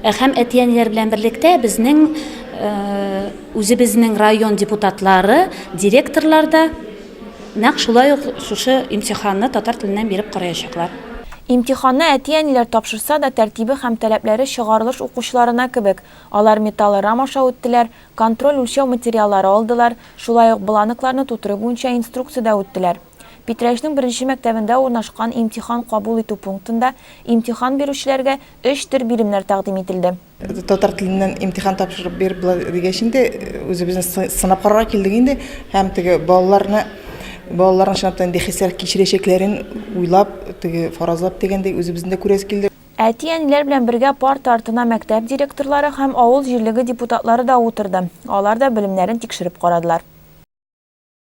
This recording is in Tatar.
Һәм әти-әниләр белән берлектә безнең үзебезнең район депутатлары, директорлар да нәкъ шулай ук шушы имтиханны татар теленнән биреп караячаклар. Имтиханны әти-әниләр тапшырса да, тәртибе һәм таләпләре чыгарылыш укучыларына кебек, алар металлорам аша үттеләр, контроль-үлчәү материаллары алдылар, шулай ук бланкларны тутыру буенча инструкциядә үттеләр. Питрәчнең беренче мәктәбендә урнашкан имтихан кабул итү пунктында имтихан бирүчеләргә өч төр биремнәр тәкъдим ителде. Татар теленнән имтихан тапшырып бир болай дигәч инде, үзебезне сынап карарга килдек инде һәм теге балаларны, балаларның чынлап та нинди хисләр кичерәчәкләрен уйлап, теге фаразлап дигәндәй, үзебезне дә күрәсе килде. Әти-әниләр белән бергә парта артына мәктәп директорлары һәм авыл җирлеге депутатлары да утырды, алар да белемнәрен тикшереп карадылар.